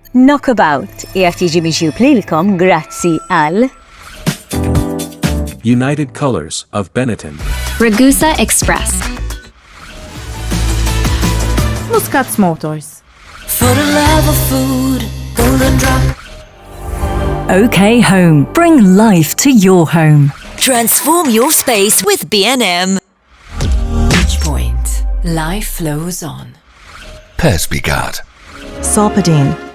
Knockabout qiegħed jiġi miġjub lilkom grazzi għal United Colors of Benetton. Ragusa Express. Muscats Motors. For the love of food, golden drop. OK Home. Bring life to your home. Transform your space with B&M. Bridgepoint. Life flows on. Persbigat. Sopadine.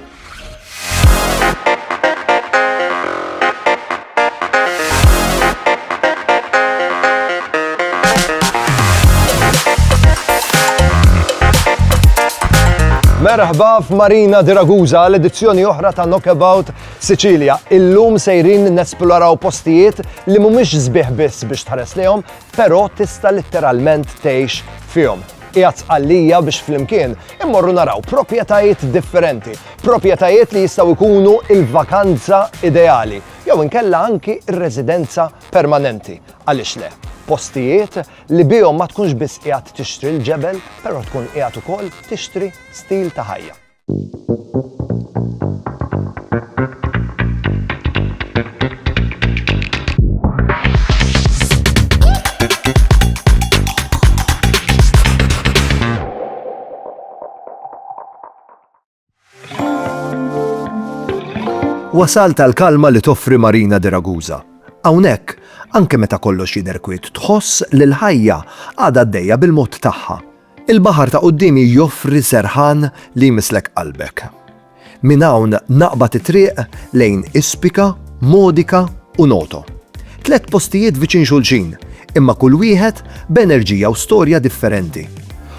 Merħba f'Marina di Ragusa l-edizzjoni oħra ta' Knockabout Sicilia. Illum sejrin nesploraw postijiet li mhumiex sbieħ biss biex tħares lihom, Però tista' litteralment tgħix fihom. Qiegħed sqallija biex flimkien immorru naraw proprjetajiet differenti, proprjetajiet li jistgħu jkunu il-vakanza ideali, jew inkella anki r-residenza permanenti. Għaliex le? Postijiet li bihom ma tkunx biss qiegħed tixtri l-ġebel, però tkun qiegħed ukoll tixtri stil ta' ħajja. Wasalt għall-kalma li toffri Marina de Ragusa. Hawnhekk, anke meta kollox jidher kwiet, tħoss li l-ħajja għadha għaddejja bil-mod tagħha. Il-baħar ta' quddiemi joffri serħan li jmisslek qalbek. Minn hawn naqbad it-triq lejn Ispika, Modica u Noto. Tliet postijiet viċin xulxin, imma kull wieħed b'enerġija u storja differenti.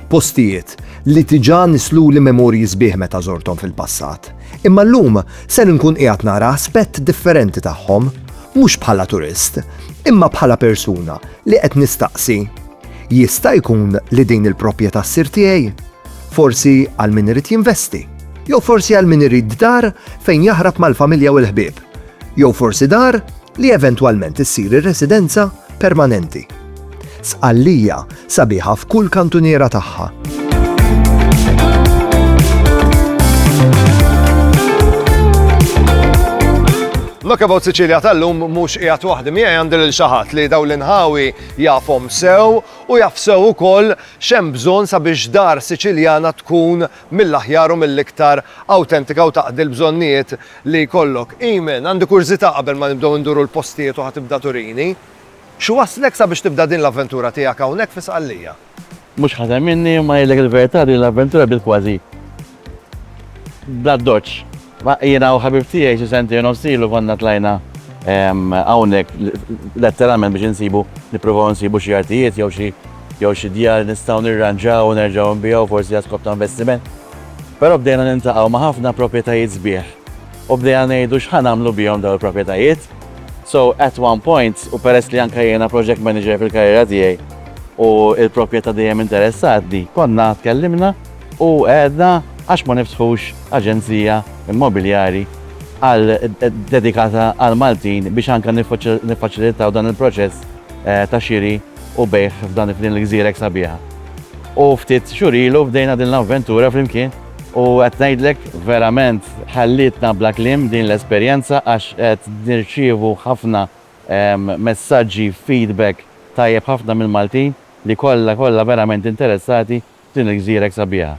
Postijiet li diġà nissluli memorji sbieħ meta żorthom fil-passat, imma llum ser inkun qiegħed nara aspett differenti tagħhom, mhux bħala turist, imma bħala persuna li qed nistaqsi, Jista' jkun li din il-proprjetà ssir tiegħi? Forsi għal min irid jinvesti? Jew forsi għal min irid dar fejn jaħrab mal-familja u l-ħbieb? Jew forsi dar li eventwalment issir ir-residenza permanenti? Sqallija sabiħa f'kull kantuniera tagħha. Knockabout Sicilia tal-lum mhux qiegħed waħdi miegħi għandi lil xi ħadd li dawn l-inħawi Jafhom sew u jaf sew ukoll x'hemm bżonn sabiex dar Siċiljana tkun mill-aħjar u mill-iktar awtentika u taqdi l-bżonnijiet li jkollok. Eamonn, għandi kurżità qabel ma nibdew induru l-postijiet u ħa tibda turini. X'wasslek sabiex tibda din l-avventura tiegħek hawnhekk fi Sqallija? Mhux ħażen minni imma ngħidlek il-verità din l-avventura bdiet kważi bl-addoċċ. Ma jiena u ħabib tiegħi xi sentejn u nofs ilu konna tlajna hawnhekk letteralment biex insibu nippruvaw insibu xi artijiet jew xi jew xi djar li nistgħu nirranġaw u nerġgħu nbigħu forsi għal skop ta' investiment. Però bdejna niltaqgħu ma' ħafna proprjetajiet sbieħ U bdejna ngħidu x'ħa nagħmlu bihom dawn il-proprjetajiet. So at one point, u peress li anke jiena project manager fil-karriera tiegħi u l-proprjetà dejjem interessatni, konna tkellimna u għedna għax ma niftħux aġenzija immobiljari għal dedikata għall-Maltin biex anke niffaċilitaw dan il-proċess ta' xiri u bejgħ f'dan f'din il-gżira hekk sabiħa. U ftit xhur ilu bdejna din l-avventura flimkien. U qed ngħidlek verament ħallietna bla kliem din l-esperjenza għax qed nirċievu ħafna messaġġi, feedback tajjeb ħafna mill-Maltin li kollha kollha verament interessati f'din il-gżira hekk sabiħa.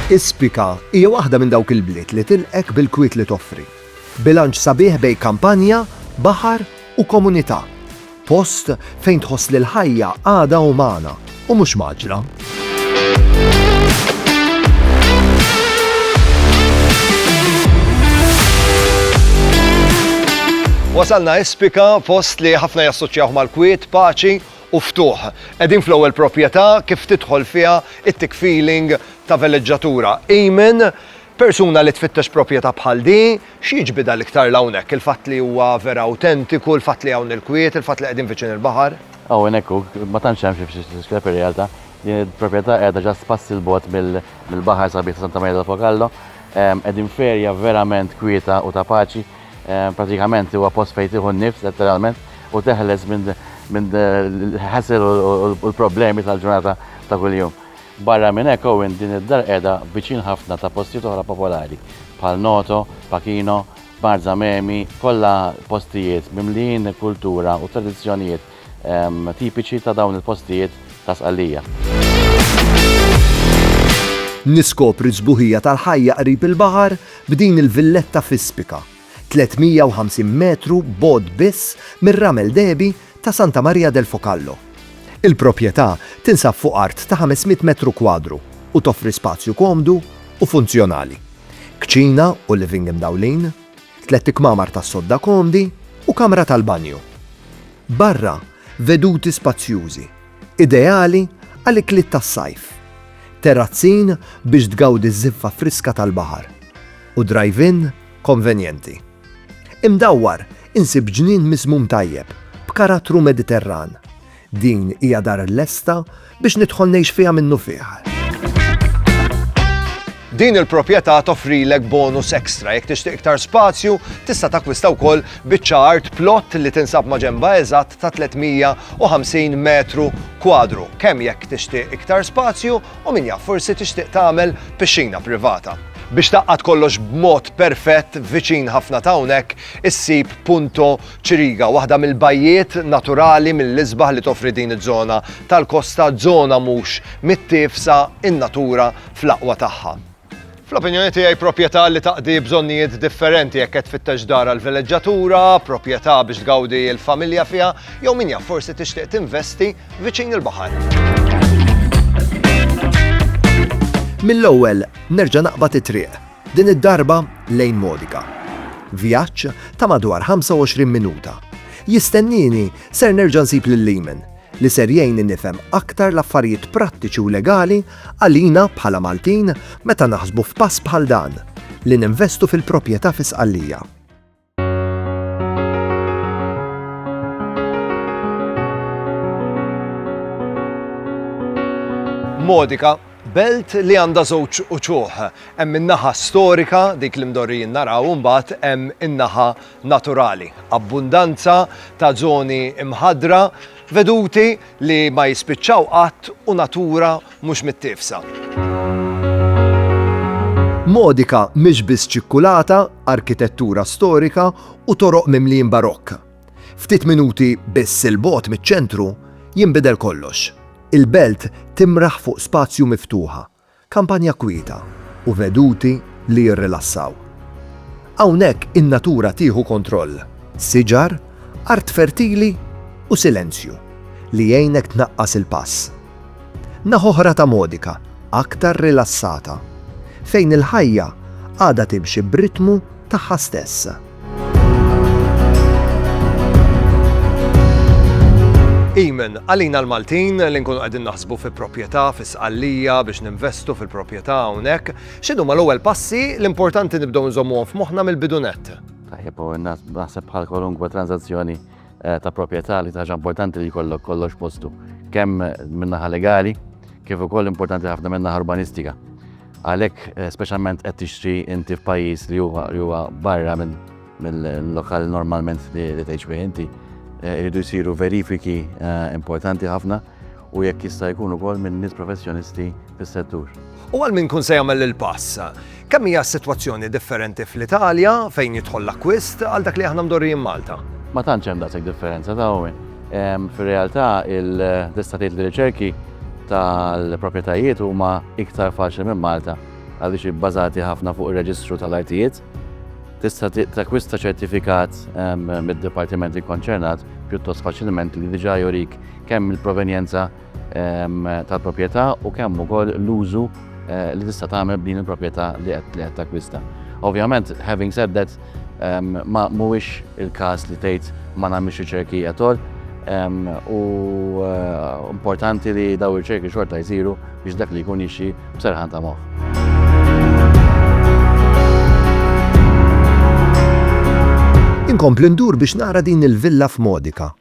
Ispika hija waħda minn dawk il-bliet li tilqek bil-kwiet li toffri. Bilanċ sabiħ bejn kampanja, baħar, u komunità, post fejn tħoss li l-ħajja għadha umana u mhux mgħaġġla. Wasalna Espika, post li ħafna jassoċjaw mal-kwiet, paċi u ftuħ. Edin fl-ewwel proprjetà kif tidħol fiha it-tick feeling ta' veleġġatura. Amen, persuna li tfittex proprjetà bħal di, Xi jiġbidha l-iktar 'l hawnhekk, il-fatt li huwa vera awtentiku, il-fatt li hawn il-kwiet, il-fatt li qegħdin viċin il-baħar? Hawnhekk hu, ma tantx hemm xi f'Xiskella fir-realtà. Din il-proprjetà qiegħda ġast passi 'l bogħod mill-baħar sabiħ ta' Santa Maria del Fogallo. Qegħdin f'erja verament kwieta u ta' paċi. Pratikament huwa post fejn tieħu n-nifs, letteralment, u teħles minn l-hassle u l-problemi tal-ġurnata ta' kuljum. Barra minn hekk Owen din id-dar qiegħda viċin ħafna ta' postijiet oħra popolari bħal Noto, Pachino, Marzamemi, kollha postijiet mimlijin kultura u tradizzjonijiet tipiċi ta' dawn il-postijiet ta' Sqallija. Niskopri s-sbuħija tal-ħajja qrib il-baħar b'din il-villetta f'ispika. 350 metru bogħod biss mir-ramel dehbi ta' Santa Maria del Focallo. Il-proprjetà tinsab fuq art ta' 500 metru kwadru u toffri spazju komdu u funzjonali, kċina u living mdawlin, tlett ikmamar tas-sodda komdi u kamra tal-banju. Barra, veduti spazjużi, ideali għal ikliet tas-sajf, terazzin biex tgawdi ż-żiffa friska tal-baħar, u drive-in konvenjenti. Imdawwar, insib ġnien miżmum tajjeb, b'karattru Mediterran. Din hija dar lesta biex nidħol ngħix fiha minnufih. Din il-proprjetà toffrilek bonus ekstra jekk tixtieq iktar spazju, tista' takkwista wkoll biċċa art plot li tinsab maġenba eżatt ta' 350 metru kwadru, kemm jekk tixtieq iktar spazju U min jaf, forsi tixtieq tagħmel pixxina privata. Biex tgħaqqad kollox b'mod perfett, viċin ħafna ta' hawnhekk issib Punto Ciriga, waħda mill-bajjiet naturali mill-isbaħ li toffri din iż-żona tal-kosta, żona mhux mittiefsa, in-natura fl-aqwa tagħha. Fl-opinjoni tiegħi proprjetà li taqdi bżonnijiet differenti jekk qed tfittex dar għal vileġġatura, proprjetà biex tgawdi l-familja fiha, jew min jaf forsi tixtieq tinvesti viċin il-baħar. Mill-ewwel nerġa' naqbad it-triq, din id-darba lejn Modica. Vjaġġ ta' madwar 25 minuta. Jistennieni ser nerġa' nsib lil Leeman, li ser jgħinni nifhem aktar l-affarijiet prattiċi u legali Għalina, bħala Maltin, meta naħsbu f'pass bħal dan, li ninvestu fil-propjetà fi Sqallija. Modica, belt li għandha żewġ uċuħ. Hemm in-naħa storika, dik li mdorrijin naraw, imbagħad hemm in-naħa naturali. Abbundanza ta' żoni mħadra, veduti li ma jispiċċaw qatt u natura mhux mittiefsa. Modica mhix biss ċikkulata, arkitettura storika u toroq mimlijin barokk. Ftit minuti biss 'il bogħod miċ-ċentru jinbidel kollox. Il-belt timraħ fuq spazju miftuħa. Kampanja kwieta u veduti li jirrilassaw. Hawnhekk in-natura tieħu kontroll, siġar, art fertili u silenzju li jgħinek tnaqqas il-pass. Naħa oħra ta' Modica aktar rilassata, fejn il-ħajja għadha timxi b'ritmu tagħha stess. Amen. Għalina l-Maltin li nkunu qegħdin naħsbu fi proprjetà, fi sqallija biex ninvestu fil-proprjetà hawnhekk, x'inhu ma l-ewwel passi l-importanti nibdew nżommuhom f'moħħna mill-bidunet. Tajjeb, u naħseb bħal kwalunkwe transazzjoni eh, ta' proprjetà li taġa importanti li jkollok kollox postu, kemm minnaħa legali, kif ukoll importanti ħafna minnaħa urbanistika. Għalhekk speċjalment qed tixtri inti f'pajjiż li huwa li huwa barra minn mill-lokal normalment li li tgħix bih inti, eh, irridu jsiru verifiki eh, importanti ħafna u jekk jista' jkun ukoll minn nies professjonisti fis-settur. U għal min kun se jagħmel il-pass, kemm hija s-sitwazzjoni differenti fl-Italja fejn jidħol l-akkwist għal dak li aħna mdorrijin Malta? Ma tantx hemm daqshekk differenza ta' Fir-realtà il-destatiet li riċerki tal-proprjetajiet huma iktar faċli minn Malta għaliex ibbażati ħafna fuq ir-reġistru tal-artijiet. Tista' takkwista ċertifikat mid-dipartiment ikkonċernat pjuttost faċilment li diġà jurik kemm il-provenjenza tal-proprjetà u kemm ukoll l-użu Eh, li tista' tagħmel b'din il-proprjetà li qed takkwista. Ovvjament, having said that, ehm, ma mhuwiex il-każ li tgħid ma nagħmilx riċerki jatol ehm, u eh, importanti li daw riċerki xorta jsiru biex dak li jkun jixi b'serħan ta' moħħ. Inkompli ndur biex nara din il-villa f'Modika.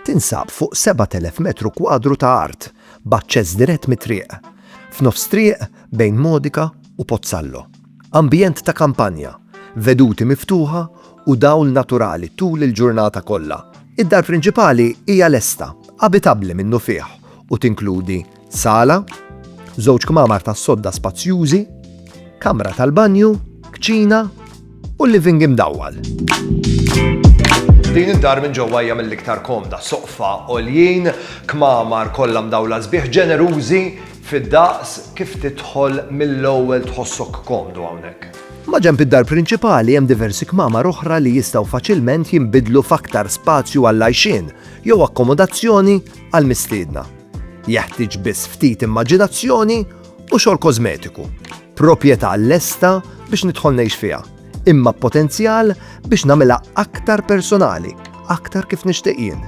Tinsab fuq 7000 metru kwadru ta' art, b'aċċess dirett mit-triq f'nofs triq bejn Modica u Pozzallo. Ambjent ta' kampanja, veduti miftuħa u dawl naturali tul il-ġurnata kollha. Id-dar prinċipali hija lesta, abitabbli minnufih u tinkludi sala, żewġ kmamar tas-sodda spazjużi, kamra tal-banju, kċina, u living imdawwal. Din id-dar minn ġewwa hija mill-iktar komda, soqfa għoljin, kmamar kollha mdawla sbieħ ġenerużi fid-daqs kif tidħol mill-ewwel tħossok komdu hawnhekk. Ma ġemp id-dar prinċipali hemm diversi kmamar oħra li jistgħu faċilment jinbidlu f'aktar spazju għall-għajxien jew akkomodazzjoni għall-mistiedna. Jeħtieġ biss ftit immaġinazzjoni u xogħol kożmetiku, proprjetà lesta biex nidħol ngħix fiha, imma b'potenzjal biex nagħmilha aktar personali, aktar kif nixtieq jien.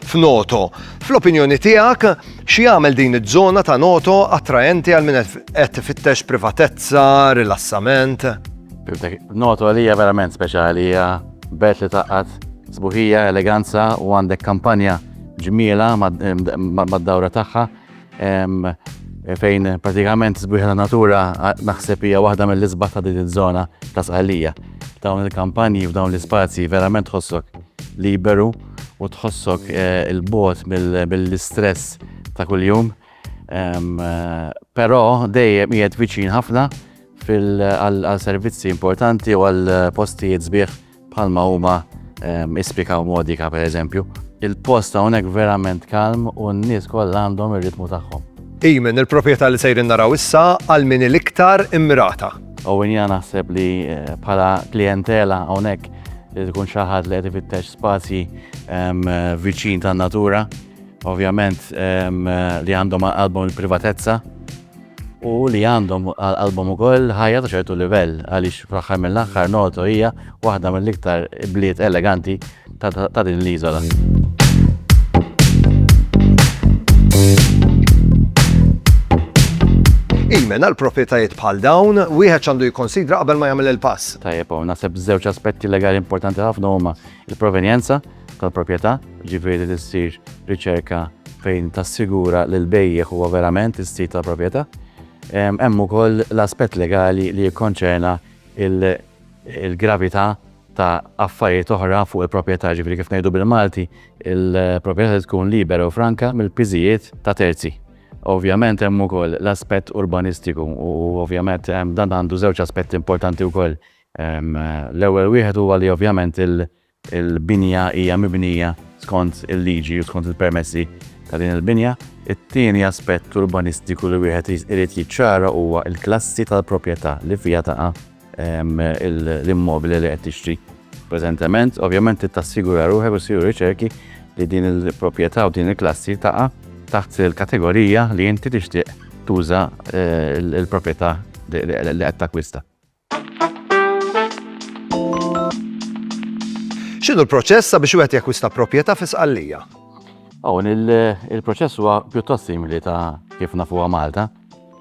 f'Noto. Fl-opinjoni tiegħek, x'jagħmel din iż-żona ta' Noto attraenti għal min qed ifittex privatezza, rilassament? Noto għalija verament speċjali hija belt li taqqat sbuħija, eleganza u għandek kampanja ġmiela mad-dawra tagħha fejn pratikament sbieħ ta' natura naħseb hija waħda mill-isbaħ ta' din iż-żona ta' Sqallija. Dawn il-kampanji f'dawn l-ispazji verament tħossok liberu u tħossok eh, il-bot mill-istress ta' kuljum. Eh, però dejjem qiegħed viċin ħafna għal servizzi importanti u għal postijiet sbieħ bħalma huma ehm, ispika u modika per eżempju. Il-post hawnhekk verament kalm u n-nies kollha għandhom ir-ritmu tagħhom. Imen, il-proprjetà li sejrin naraw issa għal min l-iktar immirata. U jina naħseb li eh, bħala klientela hawnhekk li tkun xi ħadd li qed ifittex spazji ehm, viċin tan-natura, ovvjament ehm, li għandhom għalbum il-privatezza. u li għandhom għal-album ukoll ħajja ta' ċertu livell għaliex fl-aħħar mill-aħħar Noto hija waħda mill-iktar bliet eleganti ta' din l-iżola. Imen għal proprjetajiet bħal dawn, wieħed għandu jikkonsidra qabel ma jagħmel il-pass. Tajjeb, naħseb żewġ aspetti legali importanti ħafna huma il-provenjenza tal-proprjetà, jiġifieri li ssir riċerka fejn tassigura li l-bejjiegħ huwa verament is-sid tal-proprjetà. Hemm ukoll l-aspett legali li jikkonċerna l-gravità ta' affarijiet oħra fuq il-proprjetà, jiġifieri kif ngħidu bil-Malti, il-proprjetà trid tkun libera u franka mill-piżijiet ta' terzi. Ovvjament hemm ukoll l-aspett urbanistiku u ovvjament dan għandu żewġ aspetti importanti wkoll. L-ewwel wieħed huwa li ovvjament il-binja hija mibnija skont il-liġi u skont il-permessi ta' din il-binja. It-tieni aspett urbanistiku li wieħed irid jiċċara huwa l-klassi tal-proprjetà li fiha taqa' l-immobili li qed tixtri preżentement. Ovvjament trid tassigura ruħek u ssiru riċerki li din il-proprjetà u din il-klassi taqa' taħt il-kategorija li inti tixtieq tuża l-proprjetà li qed takkwista. X'inhu l-proċess sabiex wieħed jakkwista proprjetà fi Sqallija? Hawn il-proċess huwa pjuttost simili ta' kif nafuha Malta.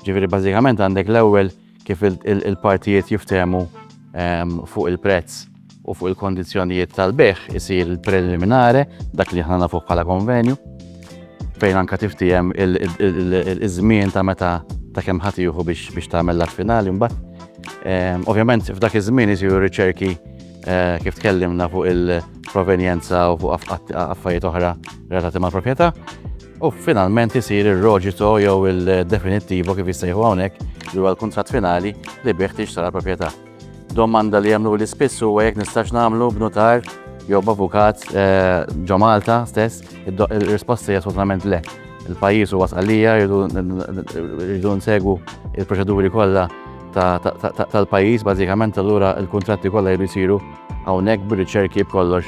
Ġifieri bażikament għandek l-ewwel kif il-partijiet jiftehmu ehm, fuq il-prezz u fuq il-kondizzjonijiet tal-bejgħ isir il-preliminare, dak li aħna nafuh bħala konvenju, fejn anka tiftijem iż-żmien ta' meta ta' kemm ħadd jieħu biex tagħmel l-att finali mbagħad. Ehm, ovvjament f'dak iż-żmien isiru riċerki eh, kif tkellimna fuq il-provenjenza u fuq affarijiet oħra relatati mal-proprjetà. U finalment isir ir-roġito jew il-definittivo kif jissejħu hawnhekk li huwa l-kuntratt finali li bih tixtara proprjetà. Domanda li jagħmluli spiss huwa jekk nistax nagħmlu b'nutar jew b'avukat eh, ġo Malta stess, ir-risposta hija assolutament le. Il-pajjiż huwa sqallija jridu nsegu il-proċeduri kollha tal-pajjiż bażikament allura l-kuntratti kollha jridu jsiru hawnhekk bir-riċerki b'kollox.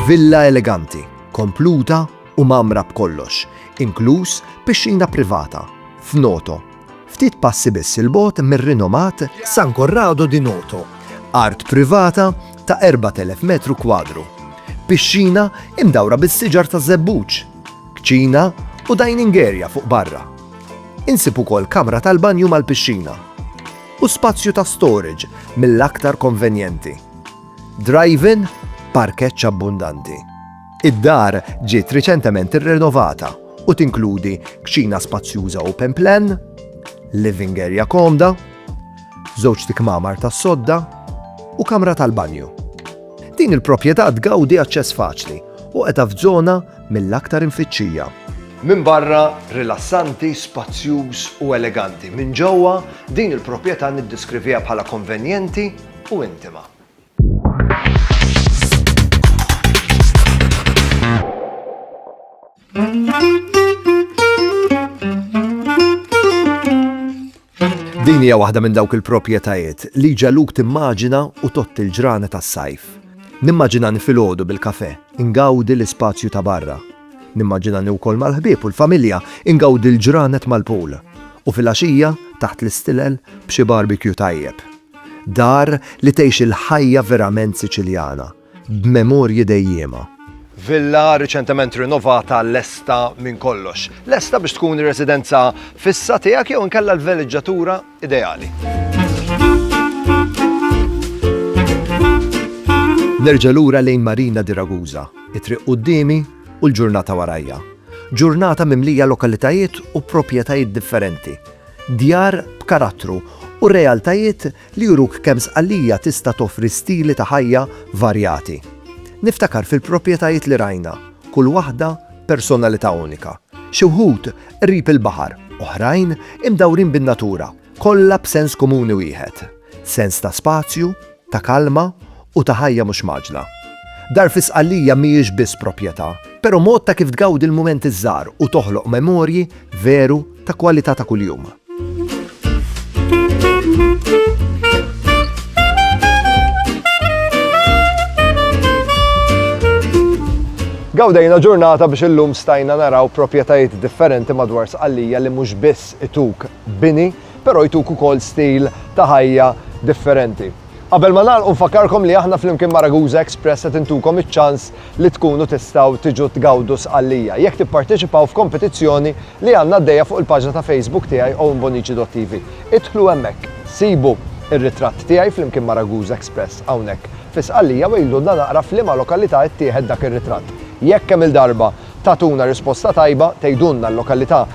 Villa eleganti, kompluta u mamra b'kollox, inkluż pixxina privata, f'Noto, Ftit passi biss 'il bogħod mir-rinomat San Corrado di Noto, art privata ta' 4,000 metru kwadru, pixxina imdawra bis-siġar taż-żebbuġ, kċina u dining area fuq barra. Insib ukoll kamra tal-banju mal-pixxina u spazju ta' storage mill-aktar konvenjenti. Drive-in, parkeġġ abbundanti. Id-dar ġiet riċentement irrenovata u tinkludi kċina spazjuża open plan, living area komda, żewġ tikmamar tas-sodda u kamra tal-banju. Din il-proprjetà tgawdi aċċess faċli u qiegħda f'żona mill-aktar imfittxija. Minn barra rilassanti, spazjuż u eleganti, minn ġewwa din il-proprjetà niddeskriviha bħala konvenjenti u intima. Din hija waħda minn dawk il-proprjetajiet li ġaluk timmaġina u tott il-ġrana tas-sajf. Nimmaġina nifilgħodu bil-kafe, ingawdi l-ispazju ta' barra. Nimmaġina wkoll mal-ħbieb u l-familja ingawdi l-ġranet mal-pool. U fil-għaxija, taħt l-istilel, b'xi barbecue tajjeb. Dar li tgħix il-ħajja verament Siċiljana, b'memorji dejjiema. Villa riċentement rinovata lesta minn kollox. Lesta biex tkun ir-residenza fissa tiegħek jew inkella l-veleġġatura ideali. Nerġa' lura lejn Marina di Ragusa, it-triq qudiemi u l-ġurnata warajja. Ġurnata mimlija lokalitajiet u proprjetajiet differenti djar b'karattru u realtajiet li juruk kemm Sqallija tista' toffri stili ta' ħajja varjati. Niftakar fil-propjetajiet li rajna, kull waħda personalità unika. Xi wħud qrib il-baħar, oħrajn imdawrin bin-natura, kollha b'sens komuni wieħed, sens ta' spazju, ta' kalma u ta' ħajja mhux mgħaġġla. Dar fi Sqallija mhijiex biss proprjetà, però mod ta' kif tgawdi l-mumenti ż-żgħar u toħloq memorji veru ta' kwalità ta' kuljum. Gawdejna ġurnata biex illum stajna naraw proprjetajiet differenti madwar Sqallija li mhux biss ituk bini, però jtuk ukoll stil ta' ħajja differenti. Qabel ma nagħlqu nfakkarkom li aħna flimkien ma' Ragusa Express qed intukom iċ-ċans li tkunu tistgħu tiġu tgawdu Sqallija jekk tipparteċipaw f'kompetizzjoni li għandna għaddejja fuq il-paġna ta' Facebook tiegħi owenbonici.tv. Idħlu hemmhekk, sibu r-ritratt tiegħi flimkien ma' Ragusa Express hawnhekk fi Sqallija u għidulna naqra f'liema lokalità ttieħed dak ir-ritratt. Jekk kemm-il darba tagħtuna risposta tajba, tgħidulna l-lokalità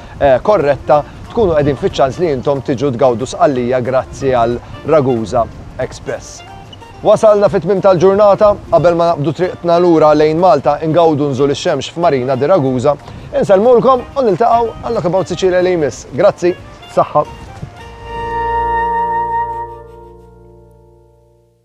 korretta, tkunu qegħdin fiċ-ċans li intom tiġu tgawdu Sqallija grazzi għal Ragusa Express. Wasalna fit-tmiem tal-ġurnata, qabel ma naqbdu triqtna lura lejn Malta ngawdu nżul ix-xemx f'Marina di Ragusa. Insellmulkom u niltaqgħu għal Knockabout Sicilia li jmiss. Grazzi. Saħħa.